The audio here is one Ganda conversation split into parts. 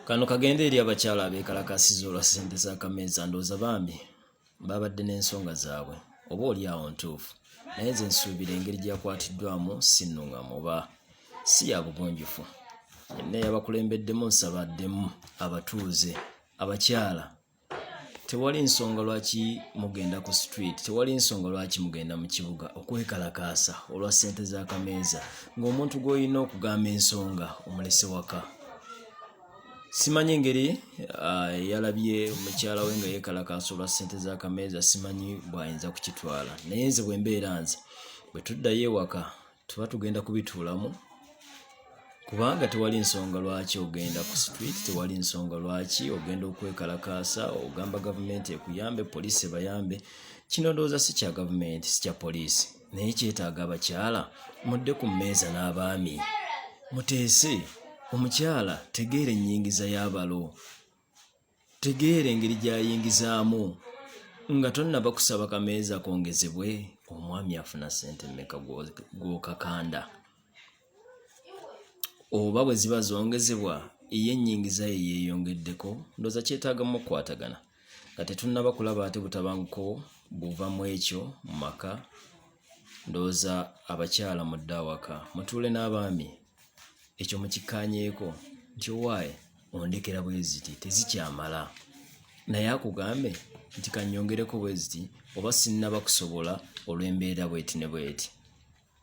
kano kagenda eri abakyala abeekalakasiza olwa ssente za kameeza ndooza bambi babadde n'ensonga zaabwe oba oli awo ntuufu naye nze nsuubira engeri gyakwatiddwamu sinnuŋamu oba si ya bugunjufu yenna yabakulembeddemu nsaba addemu abatuuze abakyala tewali nsonga lwaki mugenda ku street tewali nsonga lwaki mugenda mu kibuga okwekalakaasa olwa ssente z'akameeza ng'omuntu gw'olina okugamba ensonga omulese waka simanyi engeri ah, yalabye mukyala we nga yeekalakaasa olwa ssente z'akameeza simanyi bw'ayinza kukitwala naye nze bwe mbeera nze bwe tuddayo ewaka tuba tugenda kubituulamu kubanga tewali nsonga lwaki ogenda ku street tewali nsonga lwaki ogenda okwekalakaasa ogamba gavumenti ekuyambe poliisi ebayambe kino ndowooza si kya gavumenti si kya poliisi naye kyetaaga abakyala mudde ku mmeeza n'abaami muteese omukyala tegeera ennyingiza y'abalo Tegeera engeri gy'ayingizaamu nga tonnaba kusaba kameeza kongezebwe omwami afuna ssente mmeka gw'okakanda oba bwe ziba zongezebwa ye ennyingiza ye yeeyongeddeko ndooza kyetaagamu okukwatagana nga tetunnaba kulaba ate butabanguko buva mu ekyo mu maka ndooza abakyala mudde awaka mutuule n'abaami ekyo mukikkaanyeeko nti owaaye ondekera bweziti tezikyamala naye akugambe nti kanyongereko bweziti oba sinnaba kusobola olw'embeera bweti ne bweti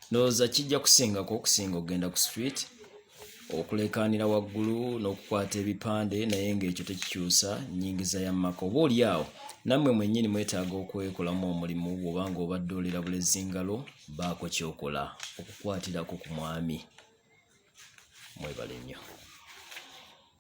ndowooza kijja kusingako okusinga okugenda ku street okulekaanira waggulu n'okukwata ebipande naye ng'ekyo tekikyusa nyingiza ya mumaka oba oli awo nammwe mwennyini mwetaaga okwekolamu omulimu bw'oba nga obadde olira bulezingalo baako kyokola okukwatirako ku mwami mwebale nnyo